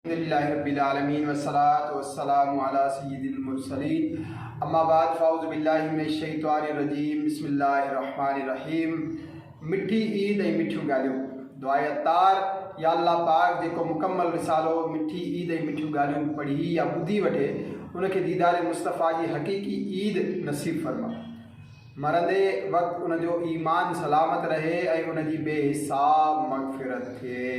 الحمد للہ رب العالمين والصلاة والسلام علی سيد المرسلين اما بعد فاعوذ باللہ من الشيطان الرجيم بسم الله الرحمن الرحيم مٺي عيد ۽ مٺيون ڳالهيون دعائي عطار يا الله پاڪ جيڪو مڪمل رسالو مٺي عيد ۽ مٺيون ڳالهيون پڙهي يا ٻڌي وٺي ان کي ديدار مصطفيٰ جي حقيقي عيد نصيب فرما مرندي وقت ان جو ايمان سلامت رهي ۽ ان جي بي حساب مغفرت ٿئي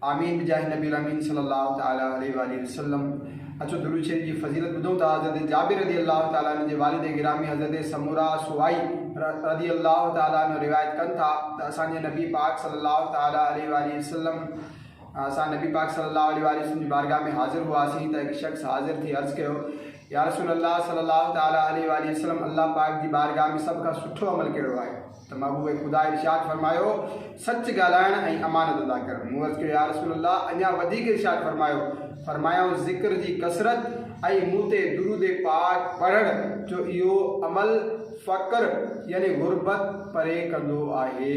آمين بجاھ نبي الامين صلّي اللّٰه تعالٰي عليه واٰله وسلّم اچو درود شريف جي فضيلت ٻڌون ٿا حضرت جابر رضي الله تعالٰي عنه جي والد گرامي حضرت سمورا سوائي رضي الله تعالٰي عنه روايت ڪن ٿا ته اسان جي نبي پاڪ صلّي اللّٰه تعالٰي عليه واٰله وسلّم اسان نبي پاڪ صلّي اللّٰه عليه واٰله وسلّم جي بارگاھ ۾ حاضر هئاسين ته هڪ شخص حاضر ٿي عرض ڪيو يا رسول الله صلّي اللّٰه تعالٰي عليه واٰله وسلّم الله پاڪ جي بارگاھ ۾ سڀ کان سٺو عمل ڪهڙو آهي؟ ته محبوب خدا ارشاد فرمايو، سچ ڳالهائڻ ۽ امانت ادا ڪرڻ. مون عرض ڪيو، يارسول الله! اڃا وڌيڪ ارشاد فرمايو. فرمايائون، ذڪر جي ڪثرت ۽ مون تي درود پاڪ پڙهڻ جو اهو عمل فقر يعني غربت پري ڪندو آهي.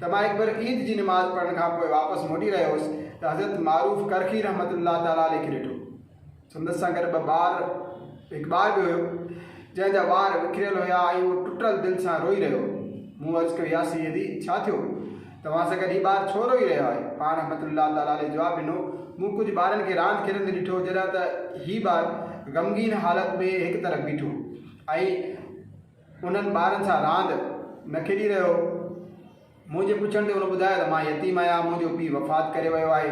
ته مان هڪ ڀيرو عيد جي نماز پڙهڻ کان پوء واپس موٽي رهيو هوس ته حضرت معروف ڪرخي رحمة الله تعالٰي عليه کي ڏٺو. سندس سان گڏ ٻه ٻار هڪ ٻار به هيو، جنهن جا وار وکريل هيا ۽ اهو ٽٽل دل سان روئي رهيو هو. مون عرض ڪيو، يا سيدي! ڇا ٿيو؟ توهان سان گڏ هي ٻار ڇو روئي رهيو آهي؟ پاڻ رحمة الله تعالٰي عليه جواب ڏنو، مون ڪجهه ٻارن کي راند کيڏندي ڏٺو، جڏهن ته هي ٻار غمگين حالت ۾ هڪ طرف بيٺو هو ۽ انهن ٻارن سان راند نه کيڏي رهيو هو. منهنجي پڇڻ تي هن ٻڌايو ته مان يتيم آهيان، منهنجو پيء وفات ڪري ويو آهي.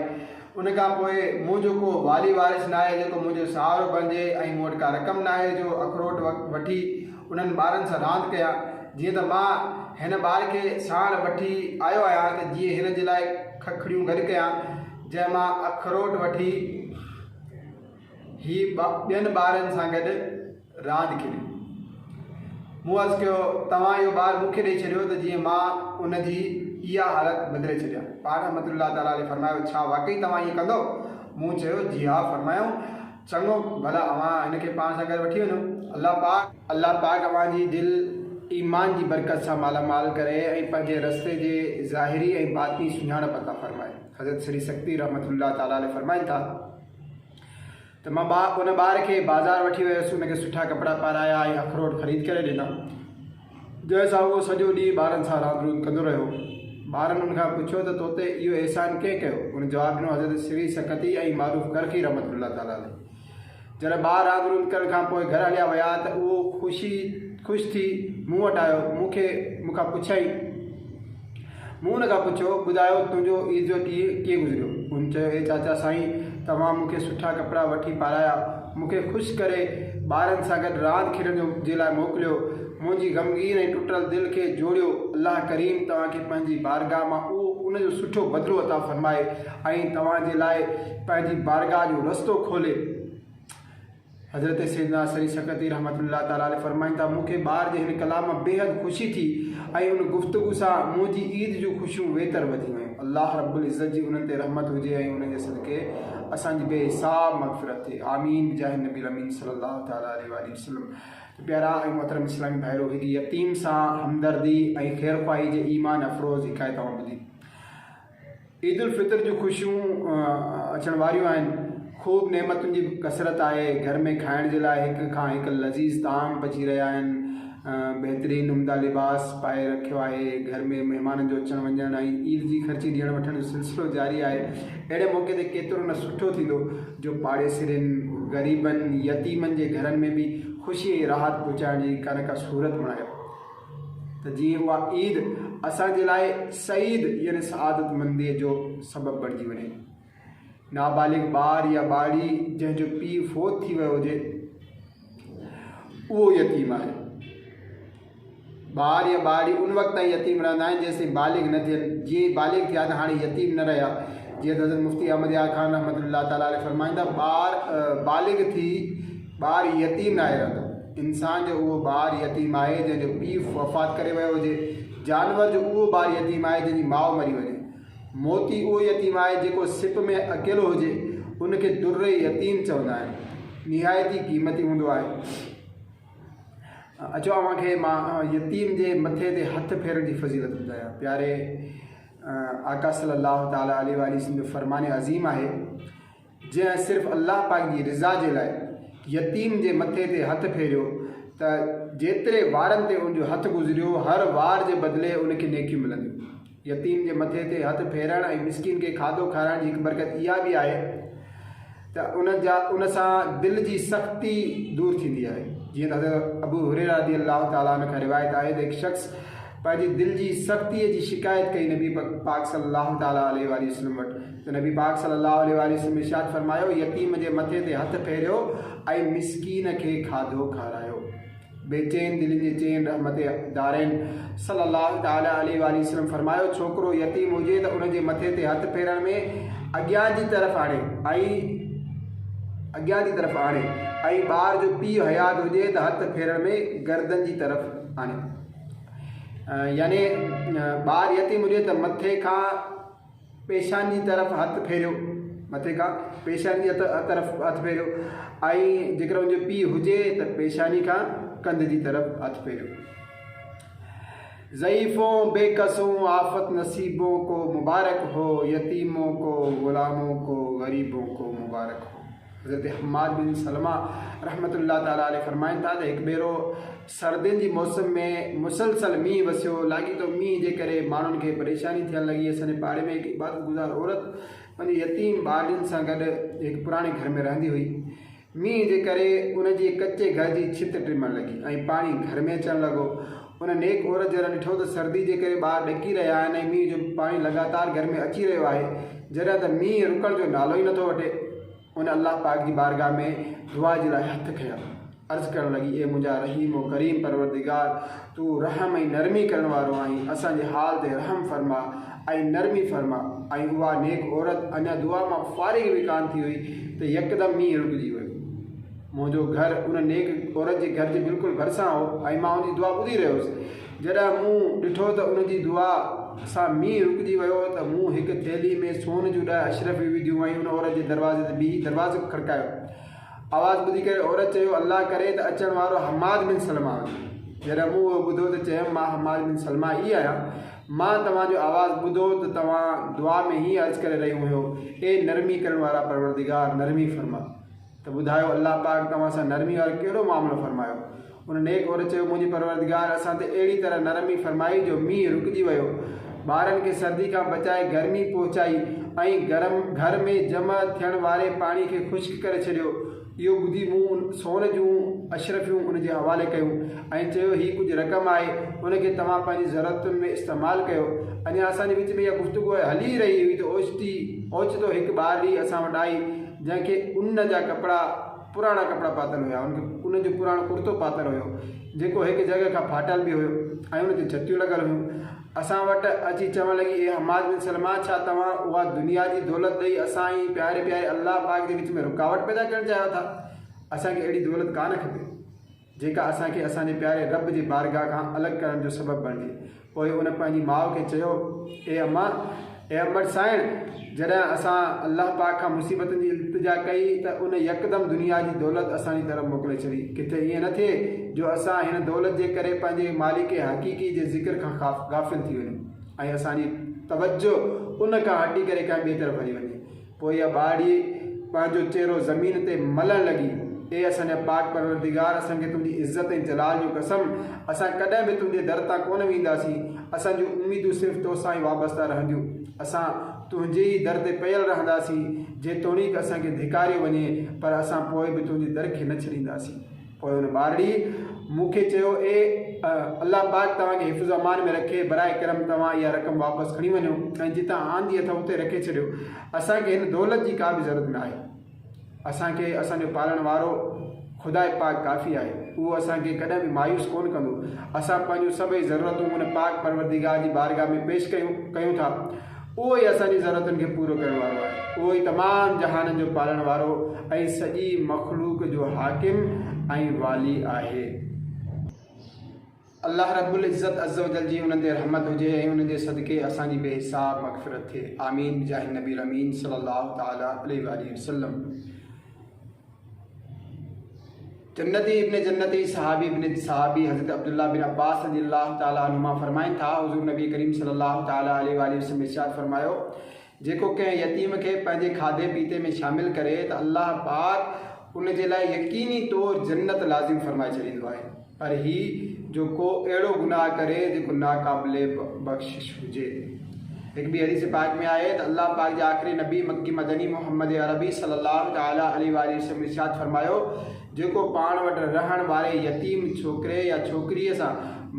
ان کان پوء منهنجو ڪو والي وارث ناهي جيڪو منهنجو سهارو بڻجي ۽ مون وٽ ڪا رقم ناهي جو اخروٽ وٺي انهن ٻارن سان راند ڪيان. جيئن ته مان هن ٻار کي ساڻ وٺي آيو آهيان ته جيئن هن جي لاء ککڙيون گڏ ڪيان جنهن مان اخروٽ وٺي هي ٻين ٻارن سان گڏ راند کي ڏنو. مون عرض ڪيو، توهان اهو ٻار مون کي ڏئي ڇڏيو ته جيئن مان ان جي اها حالت بدلي ڇڏيان. پاڻ رحمة الله تعالٰي عليه فرمايو، ڇا واقعي توهان ائين ڪندؤ؟ مون چيو، جي ها. فرمايائون، چڱو، ڀلا اوهان هن کي پاڻ سان گڏ وٺي وڃو. الله پاڪ. الله پاڪ اوهان جي دل ايمان جي برڪت سان مالا مال ڪري ۽ پنهنجي رستي جي ظاهري ۽ باطني سڃاڻپ عطا فرمائي. حضرت سري سڪتي رحمة الله تعالٰي عليه فرمائن ٿا. ته مان ٻا ان ٻار کي بازار وٺي ويس، ان کي سٺا ڪپڙا پارايا ۽ اخروٽ خريد ڪري ڏنا، جنهن سان اهو سڄو ڏينهن ٻارن سان راند روند ڪندو رهيو. ٻارن ان کان پڇيو ته تو تي اهو احسان ڪنهن ڪيو؟ ان جواب ڏنو حضرت سري سقطي ۽ معروف ڪرخي رحمة الله تعالٰي عليه. جڏهن ٻار راند روند ڪرڻ کان پوء گهر هليا ويا ته اهو خوشي خوش ٿي مون وٽ آيو، مون کي مون کان پڇيائين. مون هن کان پڇيو، ٻڌايو تنهنجو عيد جو ڏينهن ڪيئن گذريو؟ هن چيو، اي چاچا سائين، توهان مون کي سٺا ڪپڙا وٺي پارايا، مون کي خوش ڪري ٻارن سان گڏ راند کيڏڻ جو جي لاء موڪليو، منهنجي غمگين ۽ ٽٽل دل کي جوڙيو، الله ڪريم توهان کي پنهنجي بارگاهه مان اهو ان جو سٺو بدلو عطا فرمائي ۽ توهان جي لاء پنهنجي بارگاهه جو رستو کولي. حضرت سيدنا سري سقطي رحمة الله تعالٰي عليه فرمائن ٿا، مون کي ٻار جي هن ڪلام مان بيحد خوشي ٿي ۽ ان گفتگو سان منهنجي عيد جون خوشيون ويتر وڌي ويون. الله رب العزت جي انهن تي رحمت هجي ۽ انهن جي صدقي اسان جي بي حساب مغفرت ٿئي. آمين بجاه النبي الامين صلّي اللّٰه تعالٰي عليه واٰله وسلّم ته پيارا ۽ محترم اسلامي ڀائرو هڪ يتيم سان همدردي ۽ خيرخواهي جي ايمان افروز حڪايت اوهان ٻڌي. عيد الفطر جون خوشيون اچڻ واريون آهن، خوب نعمتن جي ڪثرت آهي، گهر ۾ کائڻ جي لاء هڪ کان هڪ لذيذ طعام پچي رهيا آهن، بهترين عمدا لباس پائي رکيو آهي، گهر ۾ مهمانن جو اچڻ وڃڻ ۽ عيد جي خرچي ڏيڻ وٺڻ جو سلسلو جاري آهي، اهڙي موقعي تي ڪيترو نه سٺو ٿيندو جو پاڙيسرين، غريبن، يتيمن جي گهرن ۾ به خوشي ۽ راحت پهچائڻ جي ڪا نه ڪا صورت بڻايو. ته جيئن اها عيد اسان جي لاء سعيد يعني سعادت منديء جو سبب بڻجي وڃي. نابالغ ٻار يا ٻارڙي جنهن جو پيء فوت ٿي ويو هجي اهو يتيم آهي. ٻار يا ٻارڙي ان وقت تائين يتيم رهندا آهن جيسين بالغ نه ٿين جيئن ئي بالغ ٿيا ته هاڻي يتيم نه رهيا جيئن ته حضرت مفتي احمد يار خان رحمة الله تعالٰي عليه فرمائيندا ٻار بالغ ٿي ٻار يتيم ناهي رهندو. انسان جو اهو ٻار يتيم آهي جنهن جو پيء وفات ڪري ويو هجي. جانور جو اهو ٻار يتيم آهي جنهن جي ماء مري وڃي. موتي اهو يتيم آهي جيڪو سپ ۾ اڪيلو هجي. ان کي در يتيم چوندا آهن. نهايت ئي قيمتي هوندو آهي. اچو اوهان کي مان يتيم جي مٿي تي هٿ ڦيرڻ جي فضيلت ٻڌايان. پياري آقا صلي الله تعالٰي عليه واٰله وسلم جو فرمان عظيم آهي. جنهن صرف الله پاڪ جي رضا جي لاء يتيم جي مٿي تي هٿ ڦيريو ته جيتري وارن تي ان جو هٿ گذريو هر وار جي بدلي ان کي نيڪيون ملنديون. يتيم جي مٿي تي هٿ ڦيرڻ ۽ مسڪين کي کاڌو کارائڻ جي هڪ برڪت اها به آهي ته ان جا ان سان دل جي سختي دور ٿيندي آهي جيئن ته حضرت ابو هريره رضي الله تعالٰي عنه کان روايت آهي ته هڪ شخص پنهنجي دل جي سختيء جي شڪايت ڪئي نبي پاڪ صلّي اللّٰه تعالٰي عليه واٰله وسلّم وٽ ته نبي پاڪ صلّي اللّٰه عليه واٰله وسلّم ارشاد فرمايو، يتيم جي مٿي تي هٿ ڦيريو ۽ مسڪين کي کاڌو کارايو. بيچين دلين جي چين رحمت دارين صلّي اللّٰه تعالٰي عليه واٰله وسلّم فرمايو، ڇوڪرو يتيم هجي ته ان جي مٿي تي هٿ ڦيرڻ ۾ اڳيان جي طرف آڻي ۽ ٻار جو پيء حيات هجي ته هٿ ڦيرڻ ۾ گردن جي طرف آڻي. يعني ٻار يتيم هجي ته مٿي کان پيشاني جي طرف هٿ ڦيريو مٿي کان پيشاني جي طرف هٿ ڦيريو ۽ جيڪر ان جو پيء هجي ته پيشاني کان ڪنڌ جي طرف هٿ ڦيريو ضعيفون بي قصون آفت نصيبون کو مبارڪ هو يتيمون کو غلامون کو غريبون کو مبارڪ هو حضرت حماد بن سلمہ رحمت الله تعالٰي عليه فرمائن ٿا ته هڪ ڀيرو سردين جي موسم ۾ مسلسل مينهن وسيو، لاڳيتو مينهن جي ڪري ماڻهن کي پريشاني ٿيڻ لڳي، اسان جي پاڙي ۾ هڪ عبادت گذار عورت پنهنجي يتيم ٻارڙين سان گڏ هڪ پراڻي گهر ۾ رهندي هئي، مينهن جي ڪري ان جي ڪچي گهر جي ڇت ٽمڻ لڳي ۽ پاڻي گهر ۾ اچڻ لڳو، ان نيڪ عورت جڏهن ڏٺو ته سردي جي ڪري ٻار ڏڪي رهيا آهن ۽ مينهن جو پاڻي لڳاتار گهر ۾ اچي رهيو آهي، جڏهن ته مينهن رڪڻ جو نالو ئي نٿو وٺي. هن الله پاڪ جي بارگاهه ۾ دعا جي لاء هٿ کنيا. عرض ڪرڻ لڳي، اي منهنجا رحيم و ڪريم پروردگار! تون رحم ۽ نرمي ڪرڻ وارو آهين، اسان جي حال تي رحم فرماء ۽ نرمي فرماء. ۽ اها نيڪ عورت اڃا دعا مان فارغ به ڪانه ٿي هئي ته يڪدم مينهن رڪجي ويو. منهنجو گهر ان نيڪ عورت جي گهر جي بلڪل ڀرسان هو ۽ مان ان جي دعا ٻڌي رهيو هوس. جڏهن مون ڏٺو ته ان جي دعا سان مينهن رڪجي ويو ته مون هڪ ٿيلهي ۾ سون جون ڏهه اشرفيون وڌيون ۽ ان عورت جي دروازي تي بيهي دروازو کڙڪايو. آواز ٻڌي ڪري عورت چيو، الله ڪري ته اچڻ وارو حماد بن سلمه هجي. جڏهن مون اهو ٻڌو ته چيم، مان حماد بن سلمه ئي آهيان. مان توهان جو آواز ٻڌو ته توهان دعا ۾ هيئن عرض ڪري رهيون هيو، اي نرمي ڪرڻ وارا پروردگار! نرمي فرما. ته ٻڌايو الله پاڪ توهان سان نرمي وارو ڪهڙو معاملو فرمايو؟ ان نيڪ عورت چيو، منهنجي پروردگار اسان تي اهڙي طرح نرمي فرمائي جو مينهن رڪجي ويو، ٻارن کي سردي کان بچائي گرمي پهچائي ۽ گرم گهر ۾ جمع ٿيڻ واري پاڻي کي خشڪ ڪري ڇڏيو. اهو ٻڌي مون ان سون جون اشرفيون ان جي حوالي ڪيون ۽ چيو، هي ڪجهه رقم آهي، ان کي توهان پنهنجي ضرورتن ۾ استعمال ڪيو. اڃا اسان جي وچ ۾ اها گفتگو هلي ئي رهي هئي ته اوچتي اوچتو هڪ ٻار ڏيئي اسان وٽ آئي، جنهن کي ان جا ڪپڙا پراڻا ڪپڙا پاتل هيا ان کي ان جو پراڻو ڪرتو پاتل هيو جيڪو هڪ جڳهه کان ڦاٽل به هيو ۽ ان تي جتيون لڳل هيون اسان وٽ اچي چوڻ لڳي اي حماد بن سلمه ڇا توهان اها دنيا جي دولت ڏئي اسان ۽ پياري پياري الله پاڪ جي وچ ۾ رڪاوٽ پيدا ڪرڻ چاهيو ٿا اسان کي اهڙي دولت ڪانه کپي جيڪا اسان کي اسان جي پياري رب جي بارگاھ کان الڳ ڪرڻ جو سبب بڻجي. پوء ان پنهنجي ماء کي چيو، اي اما! اي امڙ سائڻ! جڏهن اسان الله پاڪ کان مصيبتن جي التجا ڪئي ته ان يڪدم دنيا جي دولت اسان جي طرف موڪلي ڇڏي. ڪٿي ائين نه ٿئي جو اسان هن دولت جي ڪري پنهنجي مالڪ حقيقي جي ذڪر کان غافل ٿي وڃون ۽ اسان جي توجه ان کان هٽي ڪري ڪنهن ٻئي طرف هلي وڃي. پوء اها ٻهاڙي پنهنجو چهرو زمين تي ملڻ لڳي، اي اسان جا پاڪ پروردگار! اسان کي تنهنجي عزت ۽ جلال جو قسم! اسان ڪڏهن به تنهنجي در تان ڪونه وينداسين. اسان جون اميدون صرف تو سان ئي وابسته رهنديون. اسان تنهنجي ئي در تي پيل رهنداسين، جيتوڻيڪ اسان کي ڌڪاريو وڃي، پر اسان پوء به تنهنجي در کي نه ڇڏينداسين. پوء هن ٻارڙي مون کي چيو، اي الله پاڪ توهان کي حفظ و امان ۾ رکي، براء ڪرم توهان اها رقم واپس کڻي وڃو ۽ جتان آندي اٿئو اتي رکي ڇڏيو، اسان کي هن دولت جي ڪا به ضرورت ناهي. اسان کي اسان جو پالڻ وارو خداء پاڪ ڪافي آهي، اهو اسان کي ڪڏهن به مايوس ڪونه ڪندو. اسان پنهنجون سڀئي ضرورتون ان پاڪ پروردگار جي بارگاهه ۾ پيش ڪيون ٿا. اهو ئي اسان جي ضرورتن کي پورو ڪرڻ وارو آهي. اهو ئي تمام جهانن جو پالڻ وارو ۽ سڄي مخلوق جو حاڪم ۽ والي آهي. الله رب العزت عزّوجلّ جي انهن تي رحمت هجي ۽ انهن جي صدقي اسان جي بي حساب مغفرت ٿئي. آمين بجاهه النبي الامين صلّي الله تعالٰي عليه واٰله وسلّم. جنتي ابن جنتي صحابي ابن صحابي حضرت عبدالله بن عباس رضي الله تعالٰي عنهما فرمائن ٿا، حضور نبي ڪريم صلي الله تعالٰي عليه واٰله وسلم ارشاد فرمايو، جيڪو ڪنهن يتيم کي پنهنجي کاڌي پيتي ۾ شامل ڪري ته الله پاڪ ان جي لاء يقيني طور جنت لازم فرمائي ڇڏيندو آهي. پر هي جو ڪو اهڙو گناهه ڪري جيڪو ناقابل بخشش هجي. هڪ ٻي حديث پاڪ ۾ آهي ته الله پاڪ جي آخري نبي مڪي مدني محمد عربي صلّي اللّٰه تعالٰي عليه واٰله وسلّم ارشاد فرمايو، جيڪو پاڻ وٽ رهڻ واري يتيم ڇوڪري يا ڇوڪريء سان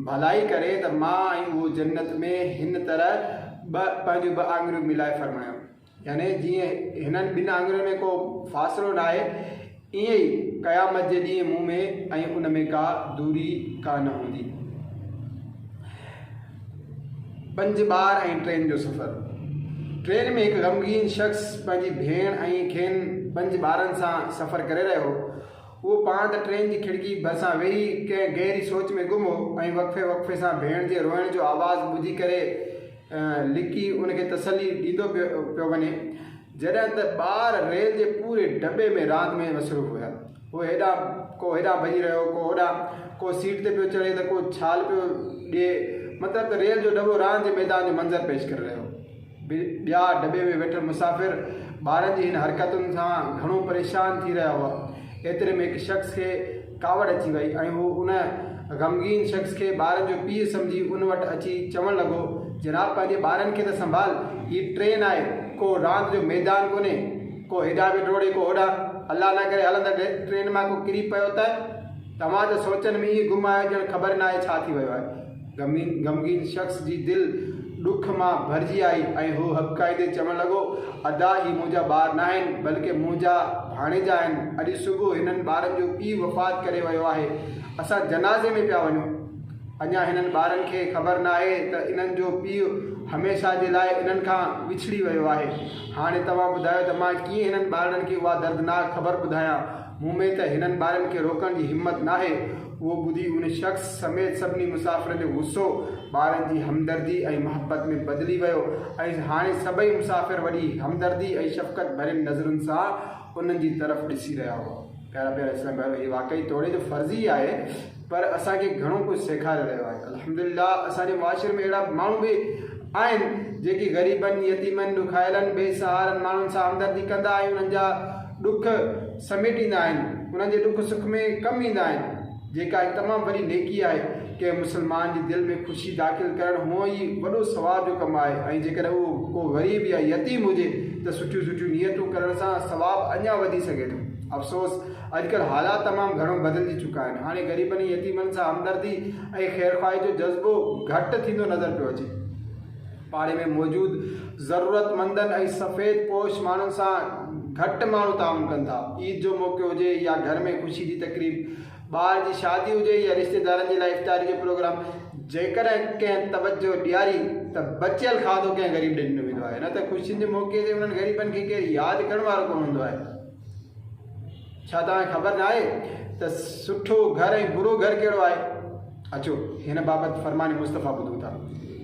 ڀلائي ڪري ته مان ۽ اهو جنّت ۾ هن طرح ٻه پنهنجون ٻه آڱريون ملائي فرمايو. يعني جيئن هنن ٻن آڱرين ۾ ڪو فاصلو ناهي، ائين ئي قيامت جي ڏينهن مون ۾ ۽ ان ۾ ڪا دوري ڪا نه هوندي. پنج ٻار ۽ ٽرين جو سفر. ٽرين ۾ هڪ غمگين شخص پنهنجي ڀيڻ ۽ کين پنج ٻارن سان سفر ڪري رهيو هو. اهو پاڻ ته ٽرين جي کڙڪي ڀرسان ويهي ڪنهن گهري سوچ ۾ گم هو ۽ وقفي وقفي سان ڀيڻ جي روئڻ جو آواز ٻڌي ڪري، لڪي ان کي تسلي ڏيندو پيو وڃي، جڏهن ته ٻار ريل جي پوري ڊٻي ۾ راند ۾ مصروف هيا. هو هيڏانهن ڪو هيڏانهن ڀڄي رهيو، ڪو هوڏانهن، ڪو سيٽ تي پيو چڙهي ته ڪو ڇال پيو ڏئي، مطلب ته ريل جو ڊٻو راند جي ميدان جو منظر پيش ڪري رهيو هو. ٻيا ڊٻي ۾ ويٺل مسافر ٻارن جي هن حرڪتن سان گهڻو پريشان ٿي رهيا هئا. ايتري ۾ هڪ شخص کي. ڪاوڙ اچي وئي ۽ هو ان غمگين شخص کي ٻارن جو پيء سمجهي ان وٽ اچي چوڻ لڳو، جناب پنهنجي ٻارن کي ته سنڀال، هي ٽرين آهي، ڪو راند جو ميدان ڪونهي، ڪو هيڏانهن به ڊوڙي ڪو هوڏانهن، الله نه ڪري هلندڙ ٽرين مان ڪو ڪري پيو ته؟ توهان ته سوچن ۾ ائين گم آهيو ڄڻ خبر ناهي ڇا ٿي ويو آهي. غمگين شخص جي دل ڏک مان ڀرجي آئي ۽ هو هٻڪائيندي چوڻ لڳو، ادا هي منهنجا ٻار ناهن، بلڪه منهنجا ڀاڻيجا آهن. اڄ صبح هنن ٻارن جو پيء وفات ڪري ويو آهي. اسان جنازي ۾ پيا وڃون. اڃا هنن ٻارن کي خبر ناهي ته انهن جو پيء هميشه جي لاء انهن کان وڇڙي ويو آهي. هاڻي توهان ٻڌايو ته مان ڪيئن هنن ٻارڙن کي اها دردناڪ خبر ٻڌايان. مون ۾ ته هنن ٻارن کي روڪڻ جي همت ناهي. اهو ٻڌي ان شخص سميت سڀني مسافرن جو غصو ٻارن جي همدردي ۽ محبت ۾ بدلي ويو ۽ هاڻي سڀئي مسافر وڏي همدردي ۽ شفقت ڀرين نظرن سان انهن جي طرف ڏسي رهيا هئا. پيارا پيارا اسلامي ڀائرو! هي واقعي توڙي جو فرضي آهي پر اسان کي گهڻو ڪجهه سيکاري رهيو آهي. الحمدلله اسان جي معاشري ۾ اهڙا ماڻهو به آهن جيڪي غريبن، يتيمن، ڏکايلن، بي سهارن ماڻهن سان همدردي ڪندا ۽ انهن جا ڏک سميٽيندا آهن، انهن جي ڏک سک ۾ ڪم ايندا آهن، جيڪا هڪ تمام وڏي نيڪي آهي، ڪنهن مسلمان جي دل ۾ خوشي داخل ڪرڻ هونء ئي وڏو ثواب جو ڪم آهي ۽ جيڪڏهن اهو ڪو غريب يا يتيم هجي ته سٺيون سٺيون نيتون ڪرڻ سان ثواب اڃا وڌي سگهي ٿو. افسوس اڄڪلهه حالات تمام گهڻو بدلجي چڪا آهن، هاڻي غريبن ۽ يتيمن سان همدردي ۽ خيرخواهي جو جذبو گهٽ ٿيندو نظر پيو اچي. پاڙي ۾ موجود ضرورتمندن ۽ سفيد پوش ماڻهن سان گهٽ ماڻهو تعاون ڪن ٿا. عيد جو موقعو هجي يا گهر ۾ خوشي جي تقريب، ٻار جي شادي هجي يا رشتيدارن جي لاء افطاري جو پروگرام، جيڪڏهن ڪنهن توجهه ڏياري ته بچيل کاڌو ڪنهن غريب ڏي ڏنو ويندو آهي نه ته خوشين جي موقعي تي انهن غريبن کي ڪير ياد ڪرڻ وارو ڪونه هوندو آهي. ڇا توهان کي خبر ناهي ته سٺو گهر ۽ برو گهر ڪهڙو آهي؟ اچو هن بابت فرمان مصطفيٰ ٻڌو ٿا.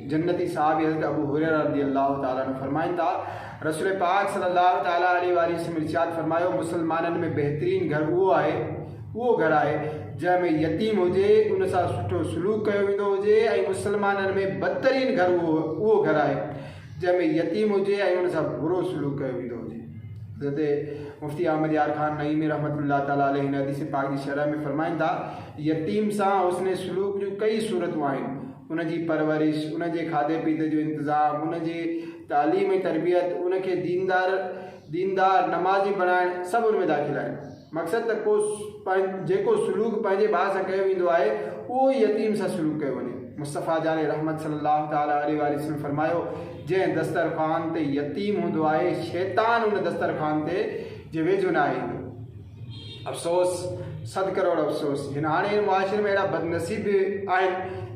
جنتي صحابي حضرت ابو هريره رضي الله تعالٰي عنه فرمائن ٿا، رسول پاڪ صلي الله تعالٰي عليه واٰله وسلم ارشاد فرمايو، مسلمانن ۾ بهترين گهر اهو آهي، اهو گهر آهي، جنهن ۾ يتيم هجي، ان سان سٺو سلوڪ ڪيو ويندو هجي ۽ مسلمانن ۾ بدترين گهر اهو گهر آهي، جنهن ۾ يتيم هجي ۽ ان سان برو سلوڪ ڪيو ويندو هجي. حضرت مفتي احمد يار خان نعيمي رحمة الله تعالٰي عليه هن حديث پاڪ جي شرح ۾ فرمائن ٿا، يتيم سان حسن سلوڪ جون ڪيئي صورتون آهن، ان جي پرورش، ان جي کاڌي پيتي جو انتظام، ان جي تعليم ۽ تربيت، ان کي ديندار، ديندار، نمازي بڻائڻ سڀ ان ۾ داخل آهن. مقصد ته ڪو جيڪو سلوڪ پنهنجي ڀاء سان ڪيو ويندو آهي اهو ئي يتيم سان سلوڪ ڪيو وڃي. مصطفيٰ جان رحمت صلّي اللّٰه تعالٰي عليه واٰله وسلّم فرمايو، جنهن دسترخوان تي يتيم هوندو آهي، شيطان ان دسترخوان تي جي ويجهو نه آهي ايندو. افسوس صد ڪروڙ افسوس جن هاڻي هن معاشري ۾ اهڙا بدنصيب به آهن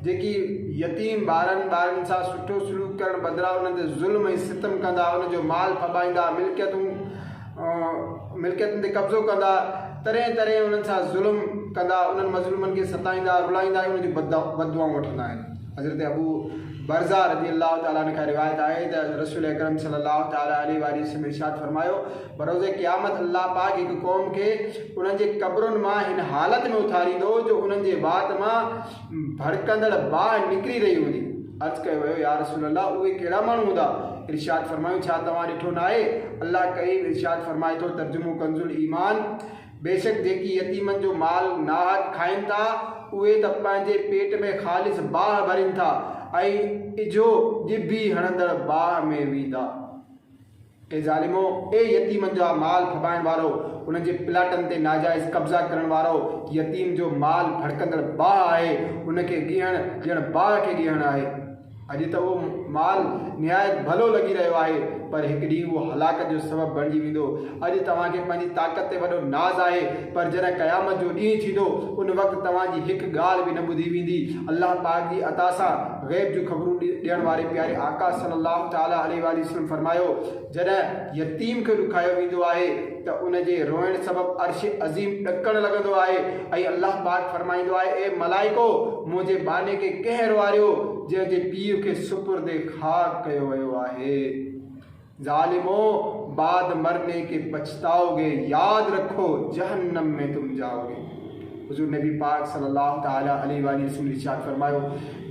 جيڪي يتيم ٻارن ٻارن سان سٺو سلوڪ ڪرڻ بدران انهن تي ظلم ۽ ستم ڪندا ان جو مال ڦٻائيندا ملڪيتون ملڪيتن تي قبضو ڪندا ترين ترين انهن سان ظلم ڪندا انهن مظلومن کي ستائيندا رلائيندا ۽ ان جون بدعائون وٺندا آهن حضرت ابو برزا رضي الله تعالٰي عنه کان روايت آهي ته رسول اڪرم صلي الله تعالٰي عليه وآله وسلم ارشاد فرمايو بروز قيامت الله پاڪ هڪ قوم کي انهن جي قبرن مان هن حالت ۾ اٿاريندو جو انهن جي وات مان ڀڙڪندڙ باهه نڪري رهي هوندي. عرض ڪيو ويو، يا رسول الله اهي ڪهڙا ماڻهو هوندا؟ ارشاد فرمايون، ڇا توهان ڏٺو ناهي؟ الله ڪريم ارشاد فرمائي ٿو، ترجمو ڪنزالايمان، بيشڪ جيڪي يتيمن جو مال ناحق کائين ٿا، اهي ته پنهنجي پيٽ ۾ خالص باهه ڀرين ٿا ۽ اجهو ڄڀي هڻندڙ باهه ۾ ويندا. اي ظالمو! اي يتيمن جا مال ڦٻائڻ وارؤ! انهن جي پلاٽن تي ناجائز قبضا ڪرڻ وارؤ! يتيم جو مال ڀڙڪندڙ باهه آهي، ان کي ڳيهڻ ڄڻ باهه کي ڳيهڻ آهي. اڄ ته اهو مال نهايت ڀلو لڳي رهيو آهي، پر هڪ ڏينهن اهو هلاڪت جو سبب بڻجي ويندو. اڄ توهان کي پنهنجي طاقت تي وڏو ناز آهي، پر جڏهن قيامت جو ڏينهن ٿيندو، ان وقت توهان جي هڪ ڳالهه به نه ٻڌي ويندي. الله پاڪ جي عطا سان. غيب جون خبرون ڏيڻ واري پياري آقا صلي الله تعالٰي عليه واٰله وسلم فرمايو، جڏهن يتيم کي ڏکايو ويندو آهي ته ان جي روئڻ سبب عرش عظيم ڏڪڻ لڳندو آهي ۽ الله پاڪ فرمائيندو آهي اي ملائڪو! منهنجي ٻانهي کي ڪنهن روئاريو جنهن جي پيء کي سپرد خاڪ ڪيو ويو آهي. ظالمو! بعد مرني ڪي پڇتائو گي، ياد رکو جهنم ۾ تم جائو گي. حضور نبي پاڪ صلي الله تعالٰي عليه واٰله وسلم ارشاد فرمايو،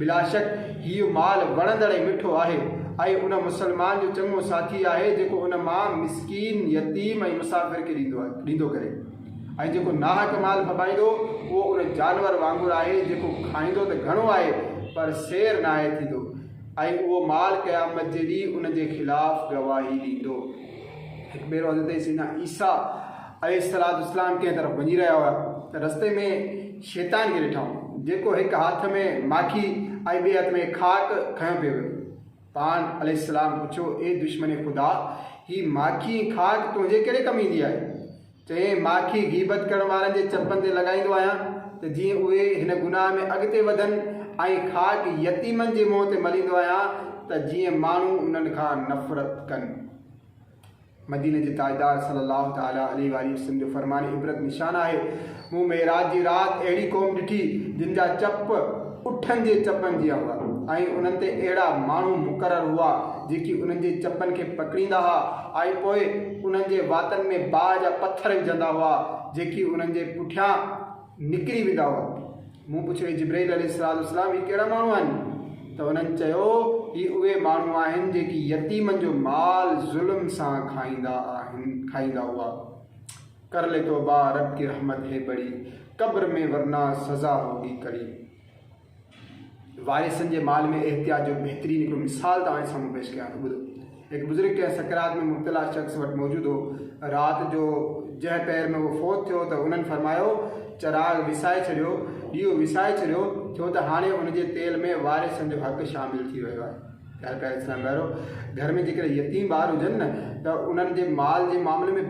بلاشڪ هيء مال وڻندڙ ۽ مٺو آهي ۽ ان مسلمان جو چڱو ساٿي آهي جيڪو ان مان مسڪين، يتيم ۽ مسافر کي ڏيندو ڪري ۽ جيڪو ناحق مال ڦٻائيندو اهو ان جانور وانگر آهي جيڪو کائيندو ته گهڻو آهي پر سير ناهي ٿيندو. ۽ اهو مال قيامت جي ڏينهن ان جي خلاف گواهي ڏيندو. هڪ ڀيرو حضرت سيدنا عيسيٰ عليه السلام ڪنهن طرف وڃي رهيا هئا ته رستي ۾ شيطان کي ڏٺائون، جيڪو هڪ هٿ ۾ ماکي ۽ ٻئي هٿ ۾ خاڪ کنيو پيو ويو. پاڻ عليه السلام پڇيو، اي دشمن خدا! هي ماکي ۽ خاڪ تنهنجي ڪهڙي ڪم ايندي آهي؟ چيائين، مان کين غيبت ڪرڻ وارن جي چپن تي لڳائيندو آهيان ته جيئن اهي هن گناهه ۾ اڳتي وڌن ۽ خاڪ يتيمن جي منهن تي مليندو آهيان ته جيئن ماڻهو انهن کان نفرت ڪن. مديني جي تاجدار صلّي اللّٰه تعالٰي عليه واٰله وسلّم جو فرمان عبرت نشان آهي، مون معراج جي رات اهڙي قوم ڏٺي جن جا چپ اٺن جي چپن جيان هئا ۽ انهن تي اهڙا ماڻهو مقرر هئا جيڪي انهن جي چپن کي پڪڙيندا ها، آهي پوء انهن جي واتن ۾ باهه جا پٿر وجهندا هئا جيڪي انهن جي پٺيان نڪري ويندا هئا مون پڇيو اي جبرئيل عليه الصلاة والسلام هي ڪهڙا ماڻهو آهن ته انهن چيو هي اهي ماڻهو آهن جيڪي يتيمن جو مال ظلم سان کائيندا آهن کائيندا هئا ڪر لي توبه رب ڪي رحمت هي بڙي قبر ۾ ورنا سزا هوگي ڪڙي. وارثن جي مال ۾ احتياط جو بهترين هڪڙو مثال توهان جي سامهون پيش ڪيان ٿو ٻڌو. هڪ بزرگ ڪنهن سڪرات ۾ مبتلا شخص وٽ موجود هو. رات جو جنهن پهر ۾ اهو فوت ٿيو ته انهن فرمايو، چراغ وسائي ڇڏيو، ڏيئو وسائي ڇڏيو، ڇو ته هاڻي ان جي تيل ۾ وارثن جو حق شامل ٿي ويو آهي. ڳالهه ڪرڻ سان پهريون گهر ۾ جيڪڏهن يتيم ٻار هجن نه ته انهن جي مال جي معاملي ۾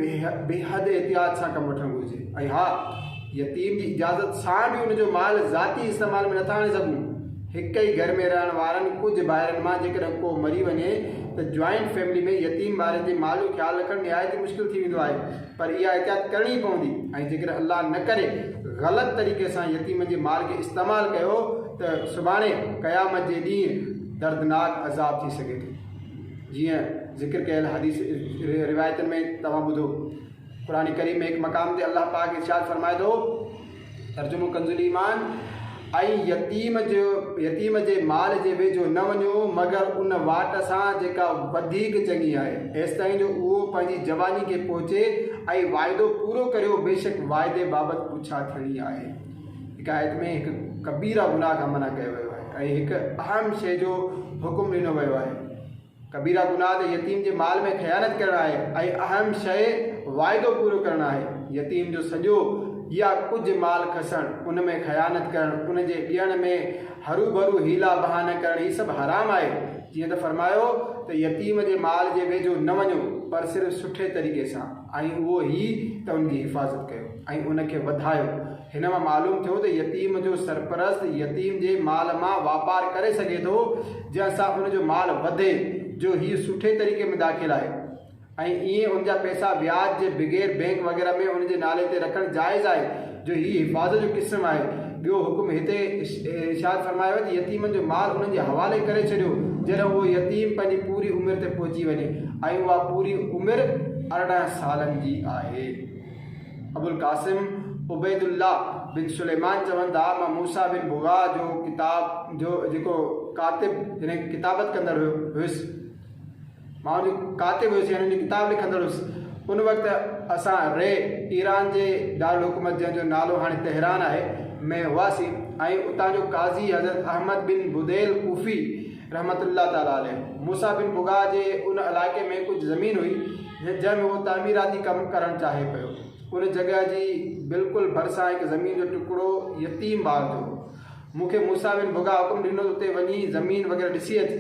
بيحد احتياط سان ڪم وٺڻ گهرجي ۽ ها يتيم جي اجازت سان به ان جو مال ذاتي استعمال ۾ نٿا آڻي سگهون هڪ ئي گهر ۾ رهڻ وارن ڪجهه ڀائرن مان جيڪڏهن ڪو مري وڃي ته جوائنٽ فيملي ۾ يتيم ٻارن جي مال جو خيال رکڻ نهايت ئي مشڪل ٿي ويندو آهي پر اها احتياط ڪرڻي ئي پوندي ۽ جيڪڏهن الله نه ڪري غلط طريقي سان يتيمن جي مال کي استعمال ڪيو ته سڀاڻي قيامت جي ڏينهن دردناڪ عذاب ٿي سگهي ٿو جيئن ذڪر ڪيل حديث روايتن ۾ توهان ٻڌو قرآن ڪريم ۾ هڪ مقام تي الله پاڪ ارشاد فرمائي ٿو ترجمو ڪنزالايمان، ۽ يتيم جو يتيم جي مال جي ويجهو نه وڃو مگر ان واٽ سان جيڪا وڌيڪ چڱي آهي، ايستائين جو اهو پنهنجي جواني کي پهچي ۽ واعدو پورو ڪريو بيشڪ واعدي بابت پڇا ٿيڻي آهي. هڪ آيت ۾ هڪ ڪبيره گناهه کان منع ڪيو ويو آهي ۽ هڪ اهم شيء جو حڪم ڏنو ويو آهي. ڪبيره گناهه ته يتيم جي مال ۾ خيانت ڪرڻ آهي ۽ اهم شيء واعدو پورو ڪرڻ آهي. يتيم جو سڄو يا ڪجهه مال کسڻ، ان ۾ خيانت ڪرڻ، ان جي ڏيڻ ۾ هروڀرو حيلا بهانه ڪرڻ هي سڀ حرام آهي. جيئن ته فرمايو ته يتيم جي مال جي ويجهو نه وڃو پر صرف سٺي طريقي سان ۽ اهو هي ته ان جي حفاظت ڪيو ۽ ان کي وڌايو. هن مان معلوم ٿيو ته يتيم جو سرپرست يتيم جي مال مان واپار ڪري سگهي ٿو جنهن سان ان جو مال وڌي جو هيء سٺي طريقي ۾ داخل آهي ۽ ايئن ان جا پئسا وياج جي بغير بئنڪ وغيره ۾ ان جي نالي تي رکڻ جائز آهي جو هيء حفاظت جو قسم آهي ٻيو حڪم هتي ارشاد فرمايو ته يتيمن جو مال انهن جي حوالي ڪري ڇڏيو جڏهن اهو يتيم پنهنجي پوري عمر تي پهچي وڃي ۽ اها پوري عمر ارڙهن سالن جي آهي. ابوالقاسم عبيد الله بن سليمان چون ٿا مان موسيٰ بن بغاء جو ڪتاب جو جيڪو ڪاتب يعني ڪتابت ڪندڙ هيس مان جو ڪاتب هيس يعني جو ڪتاب لکندڙ هيس ان وقت اسان ري ايران جي دارالحڪومت جنهن جو نالو هاڻي تهران آهي ۾ هئاسين ۽ اتان جو قاضي حضرت احمد بن بديل ڪوفي رحمة الله تعالٰي عليه موسيٰ بن بگاء جي ان علائقي ۾ ڪجهه زمين هئي جنهن ۾ هو تعميراتي ڪم ڪرڻ چاهي پيو. ان جڳهه جي بلڪل ڀرسان هڪ زمين جو ٽڪرو يتيم ٻار جو هو. مون کي موسيٰ بن بگاء حڪم ڏنو ته اتي وڃي زمين وغيره ڏسي اچ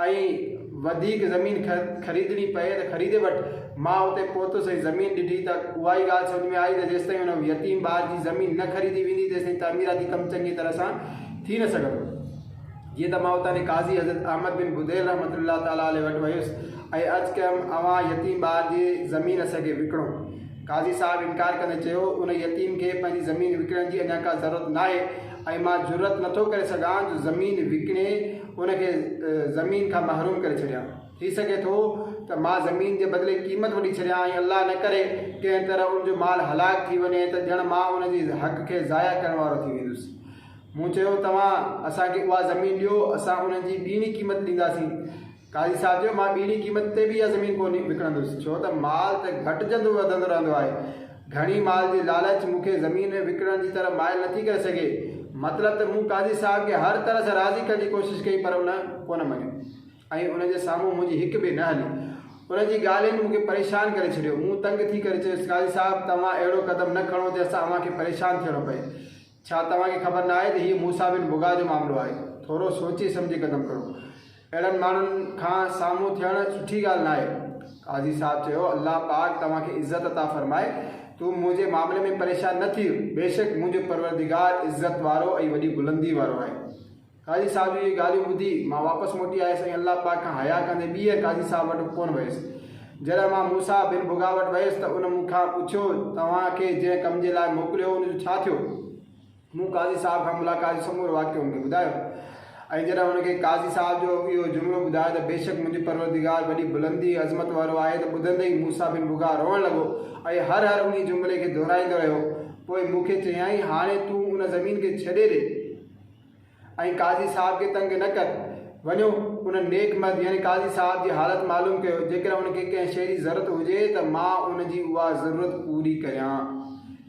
۽ وڌيڪ زمين خريدڻي پئي ته خريدي وٺ. مان اتي پهتس ۽ زمين ڏٺي ته اهائي ڳالهه سمجهه ۾ آئي ته جيستائين ان يتيم ٻار جي زمين نه خريدي ويندي تيستائين تعميراتي ڪم چڱي طرح سان ٿي نه سگهندو. جيئن ته مان اتان جي قاضي حضرت احمد بن بديل رحمة الله تعالٰي عليه وٽ ويس ۽ عرض ڪيم اوهان يتيم ٻار جي زمين اسان کي وڪڻو. قاضي صاحب انڪار ڪندي چيو، ان يتيم کي پنهنجي زمين وڪڻڻ جي اڃا ڪا ضرورت ناهي ۽ مان جرئت نه ٿو ڪري سگهان جو زمين وڪڻي ان کي زمين کان محروم ڪري ڇڏيان. ٿي سگهي ٿو ته مان زمين جي بدلي قيمت وٺي ڇڏيان ۽ الله نه ڪري ڪنهن طرح ان جو مال هلاڪ ٿي وڃي ته ڄڻ مان ان جي حق کي ضايع ڪرڻ وارو ٿي ويندس. مون چيو، توهان اسان کي اها زمين ڏيو، اسان ان جي ٻيڻي قيمت ڏينداسين. قاضي صاحب چيو، مان ٻيڻي قيمت تي به اها زمين ڪو نه وڪڻندس، ڇو ته مال ته گهٽجندو وڌندو رهندو آهي. گهڻي مال جي لالچ مون کي زمين وڪڻڻ جي طرف مائل نٿي ڪري سگهي. مطلب ته مون قاضي صاحب کي هر طرح سان راضي ڪرڻ جي ڪوشش ڪئي پر ان ڪو نه مڃيو ۽ ان جي سامهون منهنجي هڪ به نه هلي. ان جي ڳالهين مون کي پريشان ڪري ڇڏيو. مون تنگ ٿي ڪري چيس، قاضي صاحب توهان اهڙو قدم نه کڻو جو اسان اوهان کي پريشان ٿيڻو پئي. ڇا توهان کي خبر ناهي ته هي موسيٰ بن بگا جو معاملو آهي؟ ٿورو سوچي سمجهي قدم کڻو. اهڙن ماڻهن کان سامهون ٿيڻ سٺي ڳالهه ناهي. قاضي صاحب چيو، الله پاڪ توهان کي عزت عطا فرمائي. تون منهنجي معاملي ۾ پريشان نه ٿيء. بيشڪ منهنجو پروردگار عزت وارو ۽ وڏي بلندي وارو آهي. قاضي صاحب جون اهي ڳالهيون ٻڌي مان واپس موٽي آيس ۽ الله پاڪ کان حياء ڪندي ٻيهر قاضي صاحب وٽ ڪونه ويس. جڏهن مان موسيٰ بن بگا وٽ ويس ته ان مون کان پڇيو، توهان کي جنهن ڪم جي لاء موڪليو هو ان جو ڇا ٿيو؟ مون قاضي صاحب کان ملاقات جو سمورو واقعو هن کي ٻڌايو ۽ جڏهن هن کي قاضي صاحب جو اهو جملو ٻڌايو ته بيشڪ منهنجي پروردگار وڏي بلندي ۽ عظمت وارو آهي ته ٻڌندي ئي موسيٰ بن بگا روئڻ لڳو ۽ هر هر انهي جملي کي دهرائيندو رهيو پوء مون کي چيائين هاڻي تون ان زمين کي ڇڏي ڏي ۽ قاضي صاحب کي تنگ نه ڪر. وڃو ان نيڪ مرد يعني قاضي صاحب جي حالت معلوم ڪيو. جيڪڏهن ان کي ڪنهن شيء جي ضرورت هجي ته مان ان جي اها ضرورت پوري ڪريان.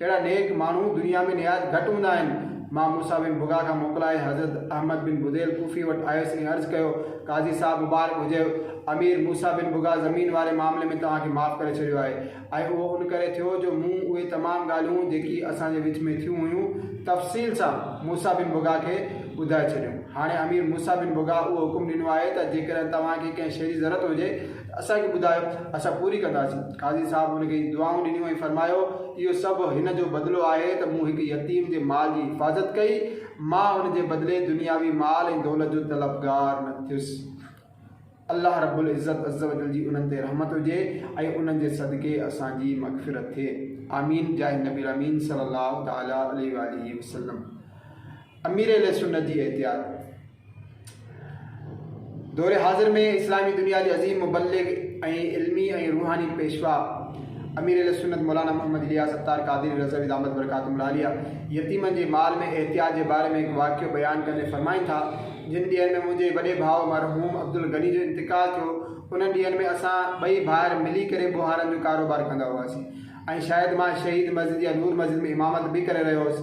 اهڙا نيڪ ماڻهو دنيا ۾ نهايت گهٽ هوندا آهن. مان موسيٰ بن بگا کان موڪلائي حضرت احمد بن بديل ڪوفي وٽ آيس ۽ عرض ڪيو، قاضي صاحب مبارڪ هجيو، امير موسيٰ بن بگا زمين واري معاملي ۾ توهان کي معاف ڪري ڇڏيو آهي. ۽ اهو ان ڪري ٿيو جو مون اهي تمام ڳالهيون جيڪي اسان جي وچ ۾ ٿيون هيون تفصيل سان موسيٰ بن بگهه کي ٻڌائي ڇڏيون. هاڻي امير موسيٰ بن بگهه اهو حڪم ڏنو آهي ته جيڪڏهن توهان کي ڪنهن شيء جي ضرورت هجي ته اسان کي ٻڌايو، اسان پوري ڪنداسين. قاضي صاحب هن کي دعائون ڏنيون ۽ فرمايو، اهو سڀ هن جو بدلو آهي ته مون هڪ يتيم جي مال جي حفاظت ڪئي، مان ان جي بدلي دنياوي مال ۽ دولت جو طلبگار نه ٿيس. الله رب العزت عزّوجلّ جي انهن تي رحمت هجي ۽ انهن جي صدقي اسان جي مغفرت ٿئي آمين جاهه نبي الامين صلّي الله تعالٰي عليه واٰله وسلّم امير اهل سنّت جي احتياط دور حاضر ۾ اسلامي دنيا جي عظيم مبلغ ۽ علمي ۽ روحاني پيشوا امير اهل سنّت مولانا محمد الياس ستار قادري رضوي دامت برڪاتهم العاليه يتيمن جي مال ۾ احتياط جي باري ۾ هڪ واقعو بيان ڪندي فرمائن ٿا جن ڏينهن ۾ منهنجي وڏي ڀاء مرحوم عبدالغني جو انتقال ٿيو، انهن ڏينهن ۾ اسان ٻئي ڀائر ملي ڪري ٻوهارن جو ڪاروبار ڪندا هئاسين ۽ شايد مان شهيد مسجد يا نور مسجد ۾ امامت به ڪري رهيو هوس.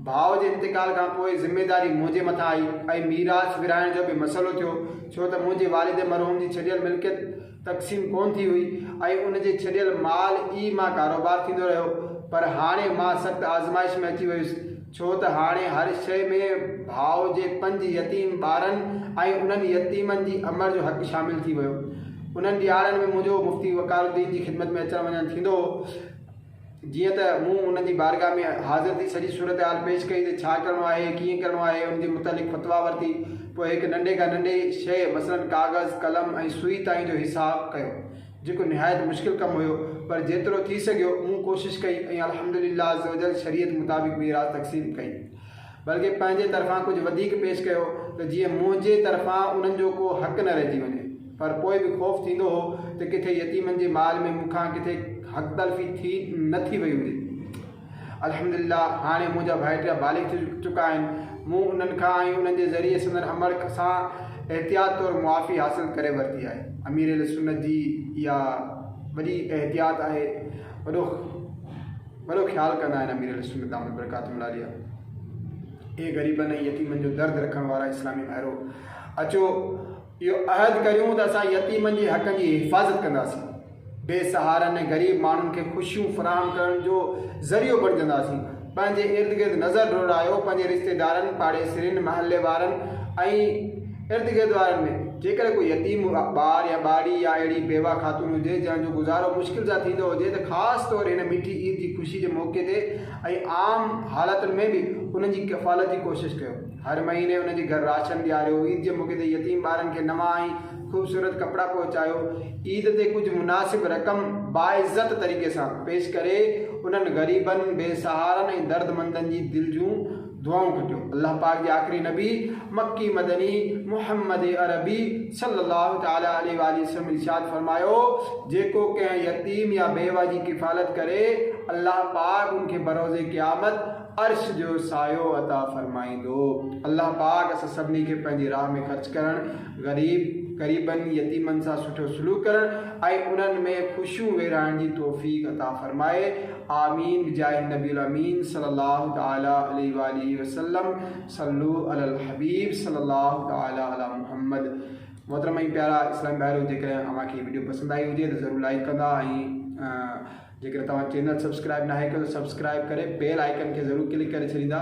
ڀاء جي انتقال کان پوء ذميداري منهنجي مٿان آئي ۽ ميراث ورهائڻ جو به مسئلو ٿيو ڇو ته منهنجي والد مرحوم جي ڇڏيل ملڪيت تقسيم ڪونه ٿي هئي ۽ ان جي ڇڏيل مال ئي مان ڪاروبار ٿيندو رهيو پر هاڻي مان سخت آزمائش ۾ اچي ويس ڇو ته هاڻي هر شيء ۾ ڀاء جي پنج يتيم ٻارن ۽ انهن يتيمن جي امڙ جو حق شامل ٿي ويو. انهن ڏهاڙن ۾ منهنجو مفتي وقار الدين جي خدمت ۾ اچڻ وڃڻ ٿيندو هو. جيئن ته مون انهن جي بارگاهه ۾ حاضر ٿي سڄي صورتحال پيش ڪئي ته ڇا ڪرڻو آهي، ڪيئن ڪرڻو آهي، ان جي متعلق فتويٰ ورتي. پوء هڪ ننڍي کان ننڍي شيء مثلاً ڪاغذ، قلم ۽ سوئي تائين جو حساب ڪيو، جيڪو نهايت مشڪل ڪم هيو، پر جيترو ٿي سگهيو مون ڪوشش ڪئي ۽ الحمدلله عزّ وجلّ شريعت مطابق ميراث تقسيم ڪئي. بلڪه پنهنجي طرفان ڪجهه وڌيڪ پيش ڪيو ته جيئن منهنجي طرفان انهن جو ڪو حق نه رهجي وڃي. پر پوء به خوف ٿيندو هو ته ڪٿي يتيمن جي مال ۾ مون کان ڪٿي حق تلفي ٿي نه ٿي وئي هوندي. الحمدلله هاڻي منهنجا ڀائٽيا بالغ ٿي چڪا آهن. مون انهن کان ۽ انهن جي ذريعي سندن امڙ سان احتياط طور معافي حاصل ڪري ورتي آهي. امير اهلسنت جي اها وڏي احتياط آهي. وڏو. وڏو خيال ڪندا آهن امير اهلسنت دامت برڪاتهم العاليه اي غريبن ۽ يتيمن جو درد رکڻ وارا اسلامي ڀائرو اچو اهو عهد ڪريون ته اسان يتيمن جي حقن جي حفاظت ڪنداسين بي سهارن ۽ غريب ماڻهن کي خوشيون فراهم ڪرڻ جو ذريعو بڻجنداسين پنهنجي ارد گرد نظر ڊوڙايو پنهنجي رشتيدارن پاڙيسرين محلي وارن ۽ ارد گرد وارن ۾، جيڪڏهن ڪو يتيم ٻار يا ٻارڙي يا اهڙي بيوه خاتون هجي، جنهن جو گذارو مشڪل سان ٿيندو هجي ته خاص طور هن مٺي عيد جي خوشي جي موقعي تي ۽ عام حالتن ۾ به انهن جي ڪفالت جي ڪوشش ڪيو. هر مهيني انهن جي گهر راشن ڏياريو، عيد جي موقعي تي يتيم ٻارن کي نوان ۽ خوبصورت ڪپڙا پهچايو، عيد تي ڪجهه مناسب رقم باعزت طريقي سان پيش ڪري انهن غريبن، بي سهارن ۽ دردمندن جي دل جون دعائون ڪڍيو. الله پاڪ جي آخري نبي مڪي مدني محمد عربي صلّي الله تعالٰي عليه واٰله وسلّم ارشاد فرمايو، جيڪو ڪنهن يتيم يا بيوه جي ڪفالت ڪري، الله پاڪ ان کي بروز قيامت عرش جو سايو عطا فرمائيندو. الله پاڪ اسان سڀني کي پنهنجي راهه ۾ خرچ ڪرڻ، غريب، غريبن، يتيمن سان سٺو سلوڪ ڪرڻ ۽ انهن ۾ خوشيون ويرائڻ جي توفيق عطا فرمائي. آمين بجاھ النبي الامين صلي الله تعالٰي عليه واٰله وسلم صلو علي الحبيب صلي الله تعالٰي علي محمد محترم ۽ پيارا اسلام بھارو جيڪڏهن اوهان کي ويڊيو پسند آئي هجي ته ضرور لائڪ ڪندا ۽ جيڪڏهن توهان چينل سبسڪرائب ناهي ڪيو ته سبسڪرائب ڪري بيل آئڪن کي ضرور ڪلڪ ڪري ڇڏيندا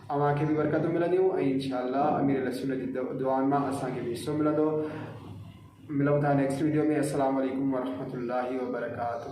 اوهان کي به برڪتون ملنديون ۽ انشاء الله امير اهلسنت جي دعائن مان اسان کي به حصو ملندو. ملون ٿا نيڪسٽ ويڊيو ۾ السلام عليڪم ورحمة الله وبرڪاته.